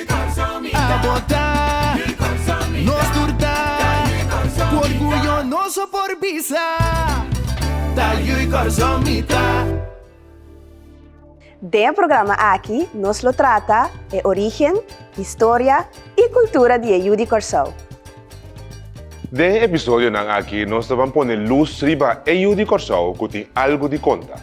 A botá, nos tur ta Ku orguyo nos a por bisa Ta yu i kòrsou mi ta. Den e programa aki nos lo trata e origen, historia i kultura di e yu di Kòrsou. Den e episodionan aki nos ta ban pone lus riba e yu di Kòrsou ku tin algu di konta.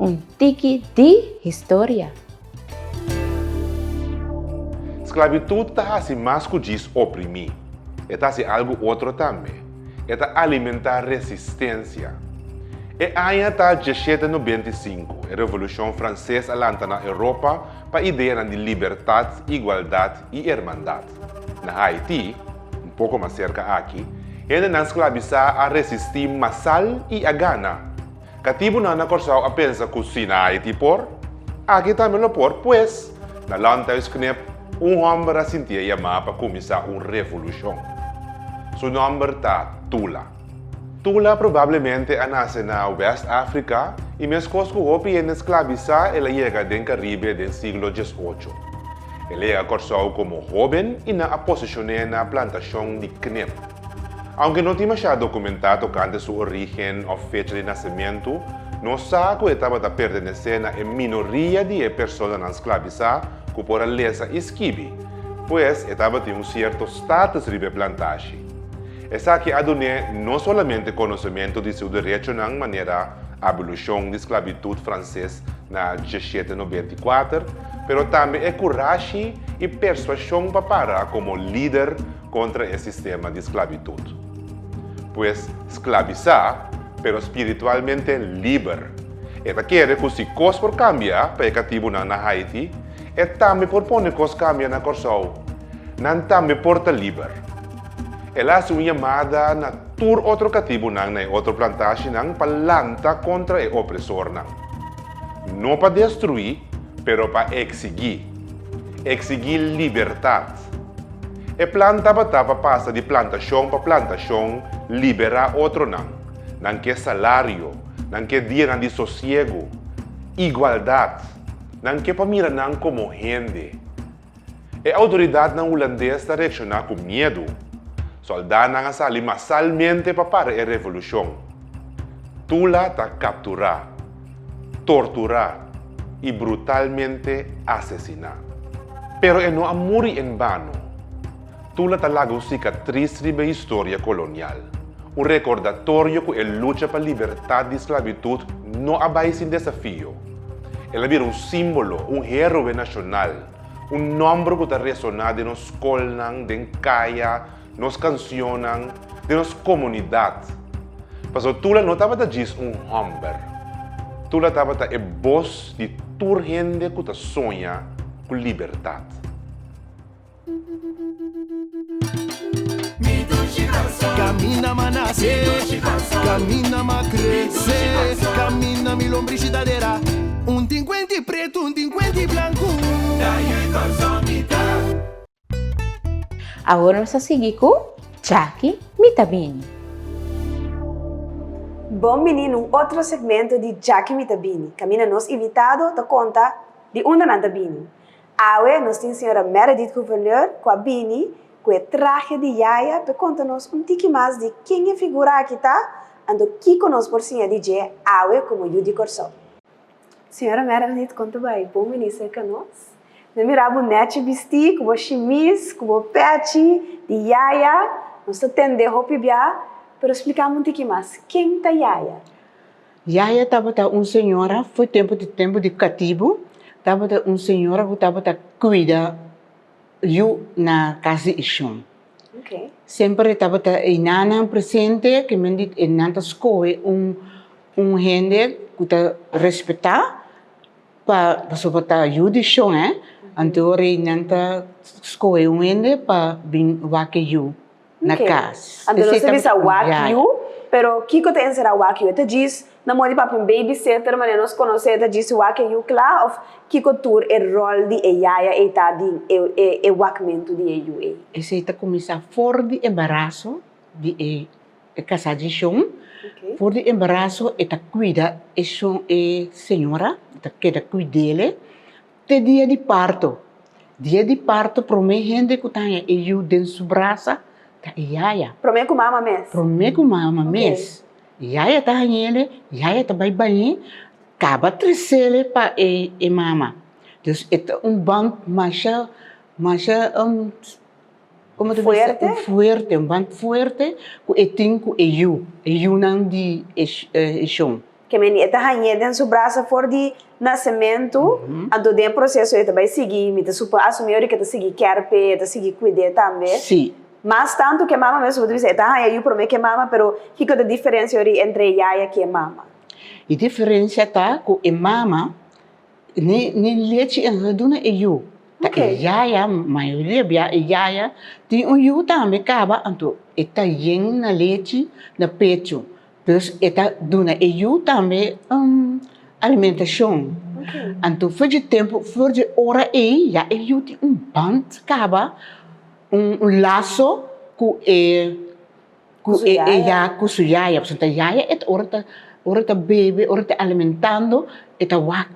Un tiki di historia. Sclavitud ta haci mas cu djis oprimi. E ta haci algo otro tambe. E ta alimenta resistencia. E aña ta diesshete nobenta i sinku, e Revolucion Frances a lanta na Europa pa ideanan di libertad, igualdad y hermandad. Na Haití, un poko mas serka aki, hendenan sklabisá a resistí masal i a gana. Katibunan na Kòrsou a pensa ku si na Haití por, aki tambe lo por pues, na Landhuisknip un hòmber a sintié yamá pa kuminsá un revolushon. Su nòmber ta Tula. Tula probablemente a nase na West Africa y meskos cu hopi hende sclabisa el a yega den Caribe den siglo diesocho. El a yega Corsou como hoben y nan a posesione na plantacion di knip. Aunke no tin masha documenta tocante su origen of fecha di nacemento, nos sa cu e tabata pertenece na e minoria di e personanan sclabisa cu por a lesa y skibi, pues e tabatin un cierto status riba e plantashi. Esaki a dun'é no solamente konosementu di su derechonan manera abolushon di sklabitut franses na djeshete nobenta i kuater, pero tambe e kurashi i persuashon pa para komo lider kontra e sistema di sklabitut. Pues, sklabisá, pero spiritualmente liber. E ta kere ku si kos por kambia pa e katibunan na Haiti, e tambe por pone kos kambia na Kòrsou. Nan tambe por ta liber. El a hasi un yamada na tur otro katibunan na e otro plantashinan pa lanta kontra e opresornan. No pa destruí, pero pa eksigí. Eksigí libertat. E plan tabata pa pasa di plantashon pa plantashon, liberá otronan, nan ke salario, nan ke dianan di sosiegu, igualdat, nan ke pa mira nan komo hende. E outoridatnan Hulandes ta reakshoná ku miedu. Sòldánan a sali masalmente pa para e revolushon. Tula ta kapturá, torturá i brutalmente asesiná. Pero e no a muri en bano. Tula ta laga un sikatris riba e historia kolonial, un rekordatorio ku e lucha pa libertat di sklabitut no a bai sin desafio. El a bira un símbolo, un héroe nashonal, un nòmber ku ta resoná den nos skolnan, den kaya, nos kansionnan, den nos komunidat. Pasobra Tula no tabata djis un hòmber. Tula tabata e bos di tur hende ku ta soña ku libertat. Awor nos a sigui cu Jackie Mi Ta Bini. Bon bini n'un otro segmento di Jackie Mi Ta Bini, caminda nos invitado ta conta di unda nan ta bini. Awe nos tin Sra. Meredith Gouverneur cu a bini cu e trahe di yaya pe conta nos un tiki mas di ken e figura aki ta, anto kico nos por siña di dje awe como Yu di Corsou. Sra. Meredith conta bay bo bini cerca nos, nos mira bo nechi bisti cu bo shimis cu bo pechi di yaya, nos ta tende hopi bia, pero splica mi un tiki mas, ken ta yaya? Yaya tabata un señora for tempu di tempu di katibu, tabata un señora ku tabata kuida yu na kas di e shon. Semper tabata e nannan presente, ke men di e nan ta skohe un un hende ku ta respetá pa pasobra bo ta yu di shon e anto e nan ta skohe un hende pa bin wak e yu. na cas. Anto nos ta bisa wakiu, pero kiko ta enserá wakiu? E ta djis na modi papia un babysitter, manera nos konos'é, e ta djis si wak e yu kla òf kiko tur e ròl di e yaya ei ta di e wakmentu di e yu ei. Esei ta kuminsá for di embaraso di e kasá dje shon. For di embaraso e ta kuida e shon, e señora ta keda kuid'ele. Te dia di parto. Dia di parto promé hende ku ta haña e yu den su brasa ta e yaya. Promé ku mama mes. Promé ku mama mes. Yaya ta hañele, yaya ta bai bañ'é, kaba tresele pa e mama. Dus e ta un band masha masha. Como tu mester fuerte? Un fuerte, un band fuerte cu e tin cu e yu, e yunan di e e shon. Ke meni e ta hañ'é den su brasa for di nasementu, anto den e proceso e ta bai sigui, mi ta supo asumí ora ke ta sigui kèr p'e, e ta sigui kuid'é tambe. Sí. Mas tantu ke mama mes, como tu bisa, e ta haña yu promé ke mama, pero kiko ta diferencia ori entre e yaya ku e mama? E diferencia ta ku e mama. Ni lechi e lo duna e yu, ta e yaya, mayoria bia e yaya tin un yu tambe kaba anto e ta yen na lechi na pechu, dus e ta duna e yu tambe alimentashon, anto for di tempu for di ora ei ya e yu tin un band kaba un laso ku e. cu su yaya. Cu su yaya, pasobra ta yaya e ta ora ta ora ta bebe, ora ta alimentando e ta wak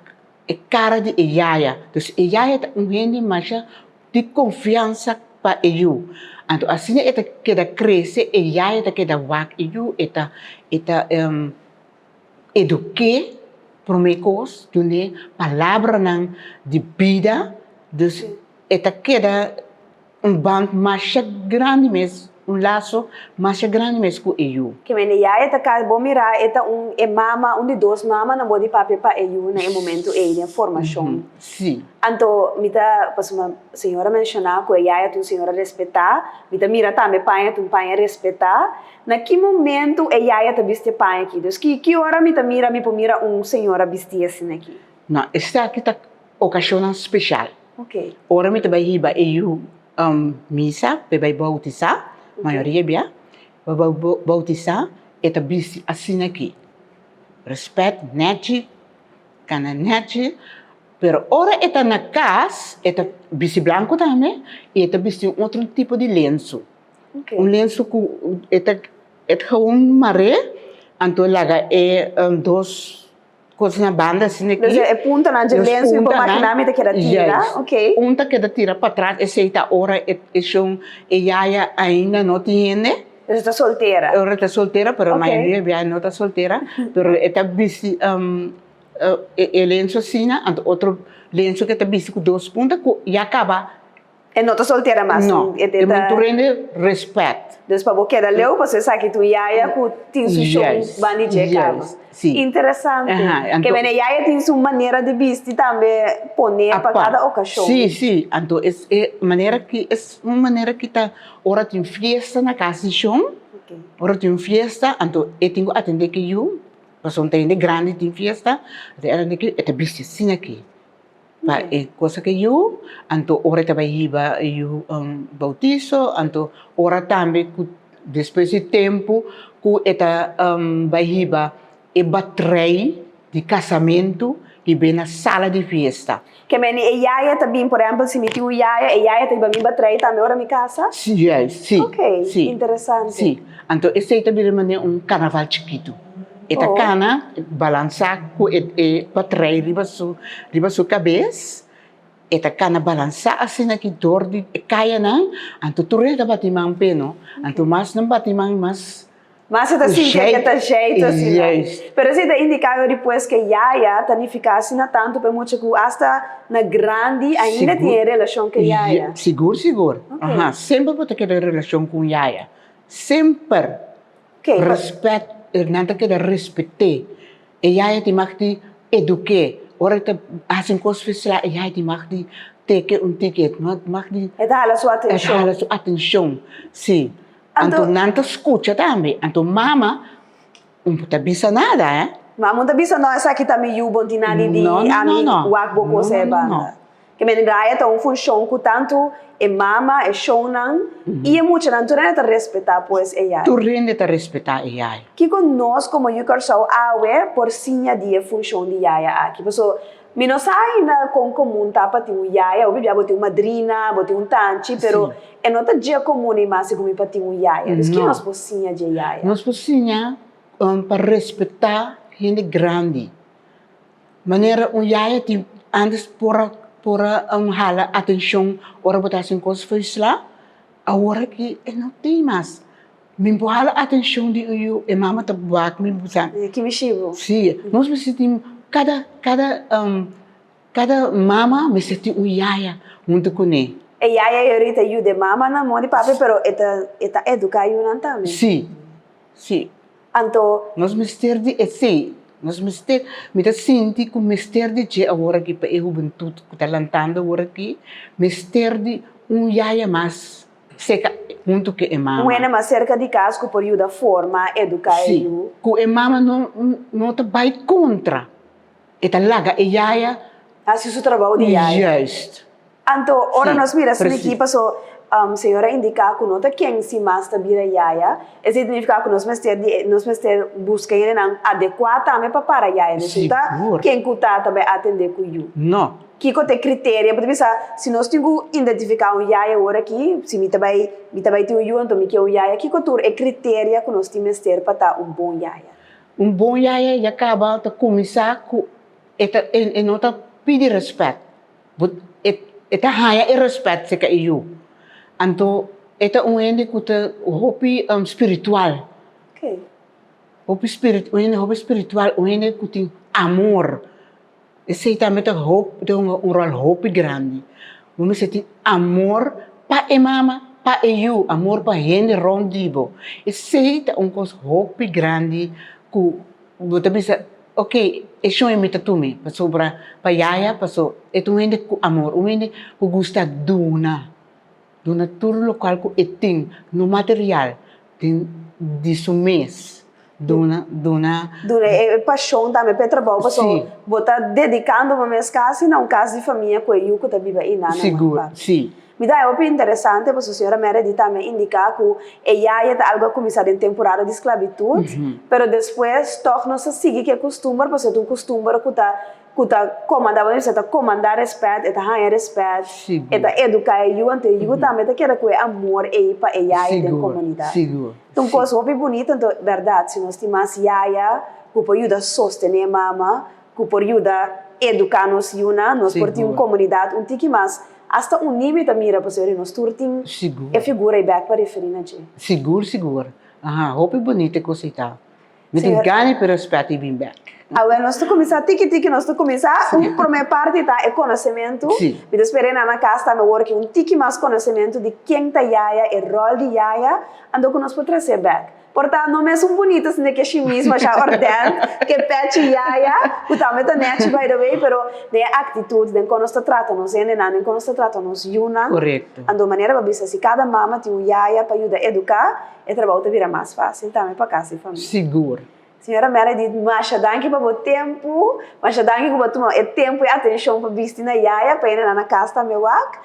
e cara di e yaya, dus e yaya ta un hende masha di confiansa pa e yu, anto asina e ta keda crece e yaya ta keda wak e yu e ta e ta. Eduqué, promé cos, dun'é palabranan di bida, dus e ta keda un band masha grandi mes, un laso masha grandi mes cu e yu. Kimen e yaya ta cas bo mirá e ta un e mama, un di dos mamanan bo di papia pa e yu na e momento ey den formacion. Sí. Anto mi ta, pasobra señora menciona cu e yaya ta un señora respetá, mi ta mira tambe paña ta un paña respetá. Na ki momentu e yaya ta bisti e paña aki? Dus ki ki ora mi ta mira mi por mira un señora bisti asina aki? No, esaki ta ocasionnan special. Ok. Ora mi ta bai hiba e yu misa pa e bai bautisá, mayoria bia, pa e bai bautisá e ta bisti asina aki, respet netji, kana netji, pero ora e ta na cas e ta bisti blanco tambe y e ta bisti un otro tipo di lenzo. Okay. Un lenso cu et et gewoon maré, anto e laga e um, dos cos na banda asina aki. Dus e puntanan dje Los lenso, mi por puntanan, imaginá mi ta keda tira. juist. Okay. Un ta keda tira pa tras, esey ta ora e, e shon, e yaya ainda no tin hende, Dus e ta soltera. ora ta soltera, pero Okay. mayoria di biaha no ta soltera, pero e ta bisti um, uh, e, e lenso asina, anto otro lenso cu e ta bisti cu dos punta, cu ya caba. E no ta soltera mas. No, e ta... e mei tur rende respet. Dus pa bo keda leu pasobra esaki ta un yaya ku tin su shon ban di dje kaba. Interesante. Ke mene yaya tin su manera di bisti tambe pone pa kada okashon. Si, si. Anto es e manera ki es un manera ki ta ora tin fiesta na kas di shon, ora tin un fiesta anto e tin ku atende ke yu pasobra hende grandi tin fiesta, e ta bisti asinaki. pa e cosa ke yu, anto ora e ta bai hiba yu bautizo, anto ora tambe ku despues di tempu ku e ta bai hiba e batrei di kasamentu di be na sala di fiesta. Ke meni e yaya ta bin, por ehempel si mi tin un yaya, e yaya ta hiba mi batrei tambe ora mi kasa? Si, juis, si. Ok, interesante. Si, anto esei ta bira manera un karnaval chikitu. E ta cana, balansa cu e e patrey riba su riba su cabez, e ta cana balansa asina ki door di e cayanan, anto tur hende ta bati man p'e no, anto mas nan bati man mas, Mas e ta sinti e ta jey ta asina. Juist. Pero esa e ta indica no despues cu e yaya ta nifica asina tanto p'e mucha cu hasta na grandi ainda tin e relacion cu e yaya. Sigur sigur, aha, semper bo ta keda relacion cu un yaya, semper. Ke? Respect, nan ta keda respet'é. E yaya tin mag di eduk'é. Ora e ta hasi un kos spesial, e yaya tin mag di tek'é un tiket, mag di. E ta hala su atenshon. E ta hala su atenshon, si. Anto nan ta skucha tambe. Anto mama un ta bisa nada, eh. Mama un ta bisa, no, esaki ta mi yu, bo no tin nadi di ami wak bo kos e banda. E mendraya ta un funshon ku tantu e mama, e shonnan i e muchanan tur hende ta respetá pues e yai. Tur hende ta respetá e yai. Kiko nos komo Yu Kòrsou awe por siña di e funshon di yaya aki? Paso mi no sa ainda kon komun ta pa tin un yaya. Hopi bia bo tin un madrina, bo tin un tanchi, pero e no ta dje komun ei mas sigur mi pa tin un yaya. Entonces ke nos por siña dje yaya? Nos por siña pa respetá hende grandi. Manera un yaya tin antes por a por a hala atencion ora bo ta hasi un cos frisla, awor aki e no tin mas. Mi por hala atencion di un yu e mama ta wak mi bo sa. Ki mishi bo. Si, nos misti tin cada cada cada mama mester tin un yaya hunto cu ne. E yaya e ori ta yuda e mamanan, mama y papi pero e ta e ta educa yunan tambe. Si, si. Anto. Nos mester di esei. Nos mester. Mi ta sinti ku mester di dje awor aki pa e hubentut ku ta lantando awor aki mester di un yaya mas seka huntu ku e mama. Un hende mas serka di kas ku por yuda forma, eduká e yu. Si, ku e mama no ta bai kontra. E ta laga e yaya. Hasi su trabou di yaya. Juist. Anto, ora nos mira esei di ki paso Señor a indica cu no ta ken si mas ta bira yaya, esei ta nifica cu nos mester di, nos mester busca yendenan adecua tambe pa para yaya di esun. Ta ken cu ta ta bay atende cu yu? No. Kico ta e criterio pa ta bisa si nos tin cu identifica un yaya ora aki, si mi ta bay, mi ta bay tin un yu, anto mi kier un yaya. Kico tur e criteria cu nos tin mester pa ta un bon yaya? Un bon yaya ya kaba ta kuminsá ku e ta e e no ta pidi rèspèt, bo e e ta haña e rèspèt se ka e yu. Anto e ta un hende ku ta hopi spiritual, hopi spirit un hende hopi spiritual, un hende ku tin amor. Esei tambe ta hunga un ròl hopi grandi. Bo mester tin amor pa e mama, pa e yu, amor pa hende rònt di bo. Esei ta un kos hopi grandi ku bo ta bisa, ok, e shon mi ta tuma pasobra pa yaya, paso e ta un hende ku amor, un hende ku gusta duna. Duna tur lokual ku e tin no material den di su mes. Duna, duna. Duna e pashon tambe pa e trabou paso bo ta dedikando bo mes kasi na un kas di famia ku e yu ku ta biba ei nan na Manipat. Sigur, si. Mi ta hopi interesante paso señora Meredith tambe a indiká ku e yaya ta algu a kuminsá den temporada di sklabitut, pero despues tòg nos a sigui ku e kustumber paso e ta un kustumber ku ta Ku ta komandá bo Dios, e ta komandá rèspèt, e ta haña rèspèt, e ta eduká e yu, anto e yu tambe ta keda ku e amor ei pa e yaya den komunidat. Ta un kos hopi bunito, anto bèrdat, si nos tin mas yaya ku por yuda sostené mama, ku por yuda eduká nos yunan, nos por tin un komunidat un tiki mas, asta uní mi ta mira, pasobra di nos tur tin e figura ei bèk pa referí na dje. Sigur, sigur. Aha, hopi bunito e kos ei ta. Mi tin Señor. gana di respet i bin bek. Awor nos ta cuminsa tiki tiki, nos ta cuminsa. Un prome parti ta e conocemento. Sí. Mi ta spera e nana cas tambe awor cu un tiki mas conocemento di ken ta yaya, e rol di yaya, anto cu nos por trace bek. Por ta no mesun bunita sino ke shi mismo asha ordèn, ke pechi yaya, cu tambe ta nechi by the way, pero den e actitud, den con nos ta trata nos hendenan, den con nos ta trata nos yunan. Correcto. Anto manera pa bisa si cada mama tin un yaya pa yuda educa, E trabou ta bira mas fásil tambe pa casa y famia. Sigur. Señora Meredith, masha danki pa bo tempu. Masha danki cu bo a tuma e tempu y atencion pa bisti na yaya, pa yena nan na cas tambe wak.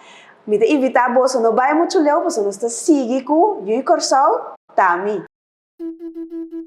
Mi ta invita boso, no bay mucho leu pasobra nos ta sigui cu Juy Corsou ta mi.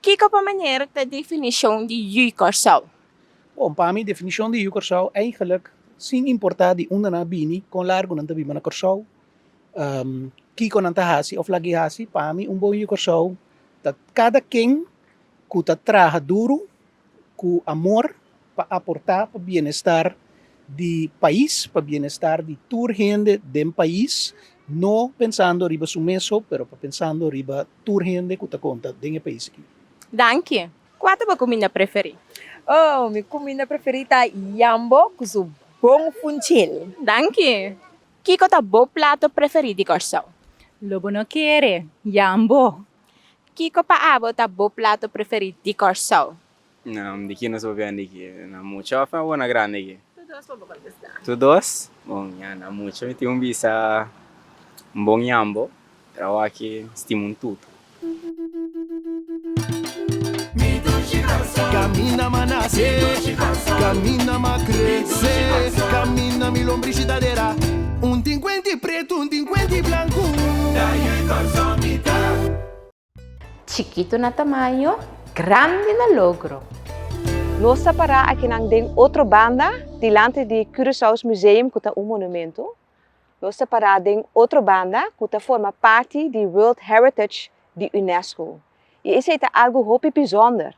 Kiko pa meneer ta definishon di Yu Kòrsou? Bon, pa mi definishon di Yu Kòrsou eigelijk, sin importá di unda nan a bini, kon largu nan ta biba na Kòrsou, kiko nan ta hasi òf lag'é hasi, pa mi un bon Yu Kòrsou ta kada ken ku ta traha duru ku amor pa aportá pa bienestar di pais, pa bienestar di tur hende den pais, no pensando riba su mes ho, pero pa pensando riba tur hende ku ta konta den e pais aki. Danki. Kua ta bo kuminda preferí? Oh, mi kuminda preferí ta yambo ku su bon funchil. Danki. Kiko ta bo plato preferí di Kòrsou? Lo bo no kere yambo Kiko pa abo ta bo plato preferí di Kòrsou? Nan di kinos bo bian di ki? Nan mucha òf nan bo na grandi ki? Tu dos pa bo kontestá. Tu dos? Bon, mi a na mucha. Mi tin un bisa un bon yambo, trao aki stima un tutu. Chikitu na tamaño, grandi na logro. Nos ta pará akinan den otro banda, dilanti di Curaçao's Museum ku ta un monumentu. Nos ta pará den otro banda ku ta forma parti di World Heritage di UNESCO. I esei ta algu hopi bisònder.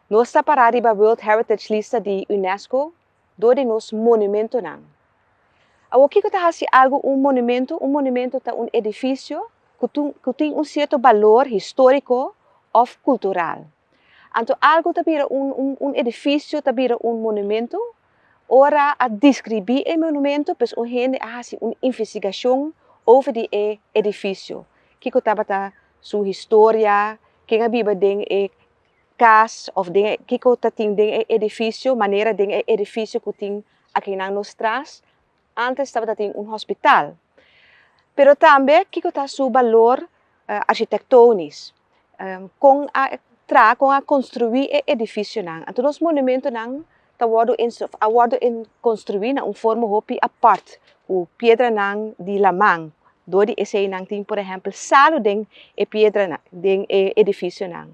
Nos ta pará riba World Heritage lista di UNESCO dor di nos monumentonan. Awor kiko ta hasi algu un monumento? Un monumento ta un edifisio ku tin un sierto balor históriko òf kultural. Anto algu ta bira un un edifisio ta bira un monumento ora a diskribí e monumento pues un hende a hasi un investigashon over di e edifisio, kiko tabata su historia, ken a biba den e kas òf den e kiko ta tin den e edifisio, manera den e edifisio ku tin akinan nos tras, ántes tabata tin un hòspital. Pero tambe kiko ta su balor arkitektónis, kon a tra kon a konstruí e edifisionan. Anto nos monumentonan ta wòrdu a wòrdu konstruí na un forma hopi apòrt ku piedranan di laman, dos di eseinan tin por ehèmpel salu den e piedranan den e edifisionan.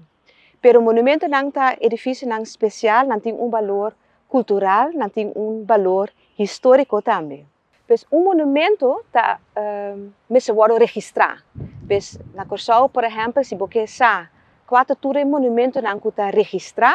Pero monumentonan ta edifisionan spesial, nan tin un balor kultural, nan tin un balor históriko tambe. Pues un monumento ta mester wòrdu registrá. Pues na Kòrsou por ehèmpel si bo ke sa kua ta tur e monumentonan ku ta registrá,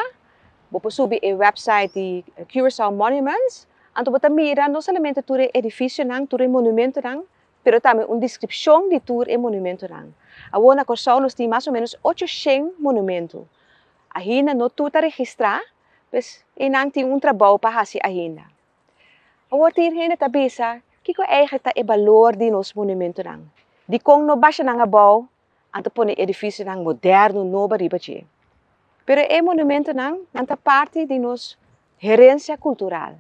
bo por subi e wèpsait di Curaçao Monuments, anto bo ta mira no solamente tur e edifisionan, tur e monumentonan, pero tambe un deskripshon di tur e monumentonan. Awor na Kòrsou nos tin mas o ménos ocho shen monumento. Ainda no tur ta registrá, pues einan tin un trabou pa hasi ainda. Awor tin e hende ta bisa, Kiko eihek ta e balor di nos monumentonan? Dikon no basha nan abou anto pone edifisionan moderno nobo riba dje? Pero e monumentonan, nan ta parti di nos herensia kultural.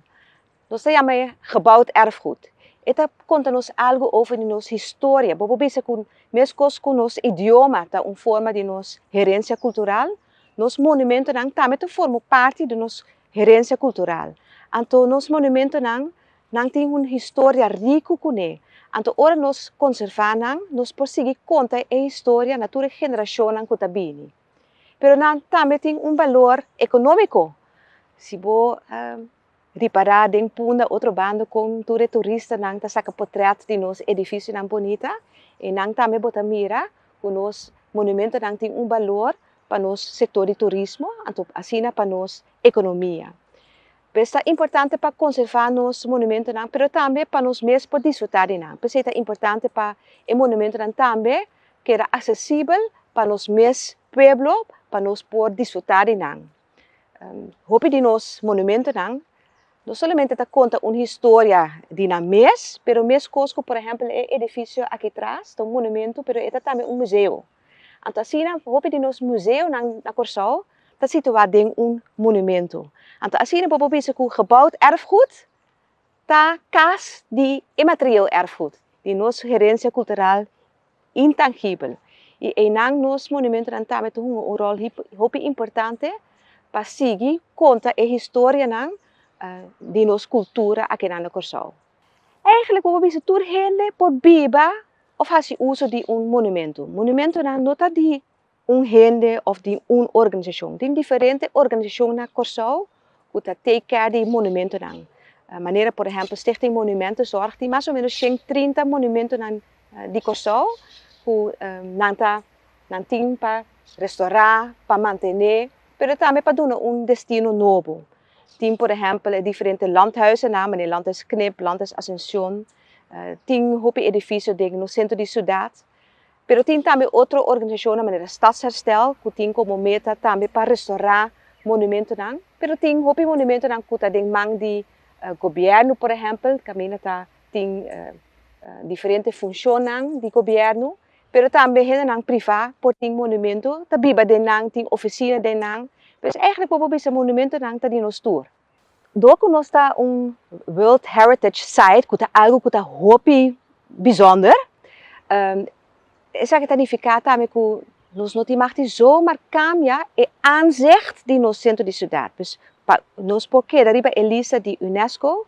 Nos ta yama e gebouwd erfgoed. E ta konta nos algu over di nos historia. Bo por bisa ku meskos ku nos idioma ta un forma di nos herensia kultural, nos monumentonan tambe ta forma parti di nos Herencia cultural, anto nos monumentonan nan tin un historia ricu cune, anto ora nos conserva nan nos por sigui conta e historia na tur e generacionnan cu ta bini. Pero nan tambe tin un valor economico, si bo ripara den Punda otro bando con tur e turistanan ta saca potret di nos edificionan bonita, e nan tambe bo ta mira cu nos monumentonan tin un valor pa nos sektor di turismo, anto asina pa nos ekonomia. P'es ta importante pa konservá nos monumentonan pero tambe pa nos mes por disfrutá di nan. P'esei ta importante pa e monumentonan tambe keda aksesibel pa nos mes pueblo pa nos por disfrutá di nan. Hopi di nos monumentonan no solamente ta konta un historia di nan mes pero meskos ku por ehèmpel e edifisio aki tras ta un monumento pero e ta tambe un museo. Anto asina hopi di nos museonan na Kòrsou ta situá den un monumentu. Anto asina bo por bisa ku gebouwd erfgoed ta kas di inmaterieel erfgoed, di nos herensia kultural intangibel. I einan nos monumentunan tambe ta hunga un ròl hopi importante pa sigui konta e historianan di nos kultura aki nan na Kòrsou. Eigenlijk bo por bisa tur hende por biba of hasi uso di un monumentu, monumentunan no ta di un hende of di un organisashon, tin diferente organisashon na Kòrsou ku ta take care di monumentunan, manera por ehèmpel Stichting Monumenten Zorg tin mas o menos shen trinta monumentunan di Kòrsou ku nan ta nan tin pa restorá, pa mantené pero tambe pa duna un destino nobo. Tin por ehèmpel e diferente Landhuizennan, mane Landhuis Knip, Landhuis Ascension. Tin hopi edifisio den nos sentro di siudat. Pero tin tambe otro organisashonnan manera Stadsherstel ku tin komo meta tambe pa restorá monumentonan. Pero tin hopi monumentonan ku ta den man di gobièrnu por ehèmpel kaminda ta tin diferente funshonnan di gobièrnu. Pero tambe hendenan privá por tin monumentu, ta biba den nan, tin ofisina den nan. Pues èigelik por bo bisa monumentunan ta di nos tur. Dor ku nos ta un World Heritage Site, ku ta algu ku ta hopi bisònder, esaki ta nifiká tambe ku nos no tin mag di zó mar kambia e aanzicht di nos sentro di siudat. Pues pa nos por keda riba e lista di UNESCO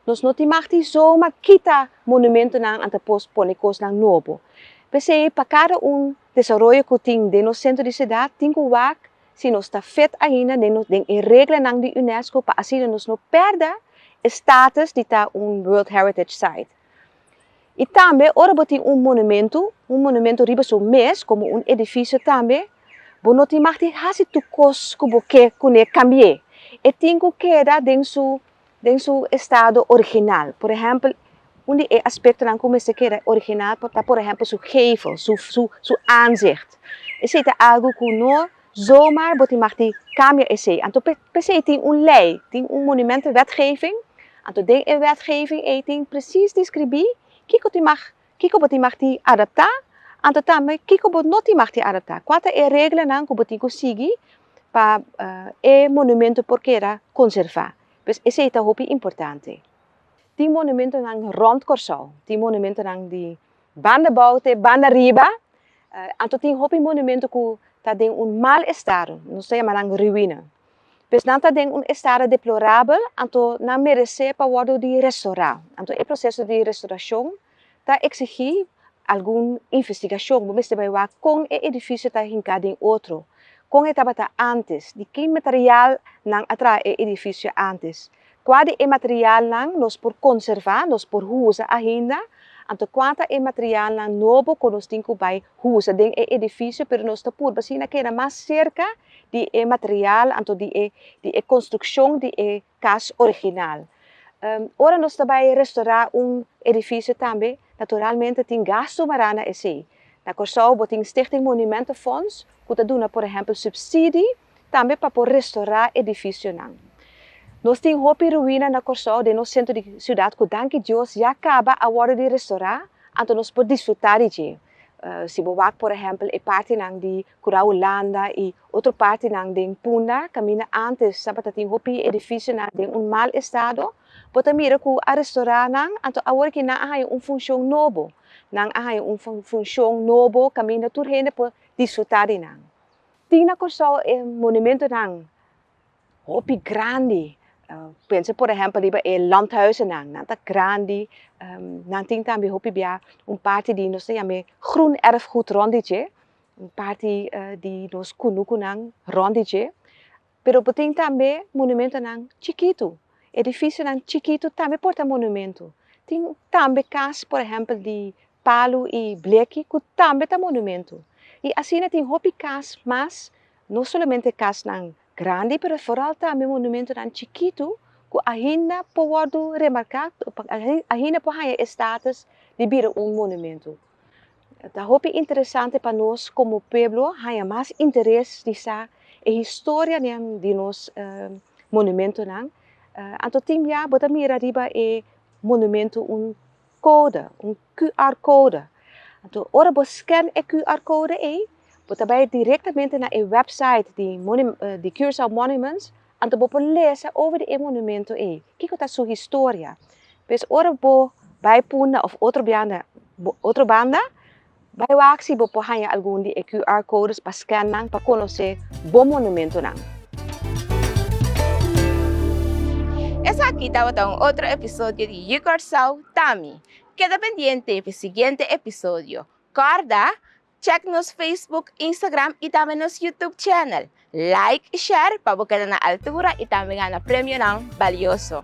Nos no tin mag tin zo ma kita monumentonan anto pos pone kosnan nobo. P'esei pa kada un desaroyo ku tin den nos sentro di siudat tin ku wak si nos ta fit ainda den e reglanan di Unesco pa asina nos no pèrdè e status di ta un World Heritage Site. I tambe ora bo tin un monumentu, un monumentu riba su mes komo un edifisio tambe, bo no tin mag tin hasi tur kos ku bo ke kuné kambi'é. E tin ku keda den su. den su estado original. Por ehempel, un di e aspectonan cu mester keda original ta por ehempel su gevel, su, su, su aanzicht. Esey ta algo cu no zomaar bo tin mag di cambia esey. Anto pe, pesey tin un ley, tin un monumentenwetgeving, anto den e wetgeving ey tin precies describí kico tin mag Kiko bo tin mag tin adaptá, anto tambe kiko bo no tin mag tin adaptá. Kua ta e reglanan ku bo tin ku sigui pa e monumentu por keda konservá. Pues esei ta hopi importante. Tin monumentunan rònt Kòrsou, tin monumentunan di banda bou te banda riba, anto tin hopi monumentu ku ta den un mal estado, nos ta yama nan ruina. Pues nan ta den un estado deplorabel, anto nan meresé pa wòrdu di restorá. Anto e proseso di restorashon ta eksigí algun investigashon, bo mester bai wak kon e edifisio ta hinká den otro, kon e tabata ántes, di ki material nan a traha e edifisio ántes, Kua di e materialnan nos por konservá, nos por usa ainda? Anto kua ta e materialnan nobo ku nos tin ku bai usa den e edifisio pero nos ta purba asina keda mas serka di e material anto di e di e konstrukshon di e kas original? Ora nos ta bai restorá un edifisio tambe naturalmente tin gastu wara na esei. Na Kòrsou bo tin Stichting Monumentenfonds ku ta duna por ehèmpel supsidie tambe pa por restorá edifisionan. Nos tin hopi ruina na Kòrsou den nos sentro di siudat ku danki Dios ya kaba a wòrdu di restorá, anto nos por disfrutá di dje. Si bo wak por ehèmpel e partinan di Kurau Hulanda i otro partinan den Punda kaminda ántes tabata tin hopi edifisionan den un mal estado, bo ta mira ku a restorá nan anto awor ki nan a haña un funshon nobo. Nan a haña un funshon nobo kaminda tur hende por disfrutá di nan. Tin na Kòrsou e monumentonan hopi grandi, pensa por ehèmpel riba e làndhuizennan, nan ta grandi, nan tin tambe hopi bia un parti di nos ta yam'é groenerfgoed rònt di dje, un parti di nos kunukunan rònt di dje. pero bo tin tambe monumentonan chikitu, edifisionan chikitu tambe por ta monumentu, tin tambe kas por ehèmpel di palu i bleki ku tambe ta monumentu i asina tin hopi kas mas, no solamente kasnan grandi pero foral tambe monumentonan chikitu ku ahinda por wòrdu remarká ahinda por haña e status di bira un monumentu. Ta hopi interesante pa nos komo pueblo haña mas interes di sa e historianan di nos monumentonan. Anto tin bia bo ta mira riba e monumento un kode, un QR kode. Anto ora bo skèn e QR kode ei bo ta bai direktamente na e wèpsait di Curaçao Monuments. Anto bo por lesa over di e monumento ei, kiko ta su historia. Pues ora bo bai Punda of otro bianda, otro banda, bai wak si bo por haña algun di e QR codes pa scan nan pa conoce bo monumentonan. Esaki tabata un otro episodio di You Curaçao Tami. Keda pendiente pa e siguiente episodio. Corda! Check nos Facebook, Instagram y tambe nos YouTube channel. Like y share pa bo keda na altura y tambe gana premionan balioso.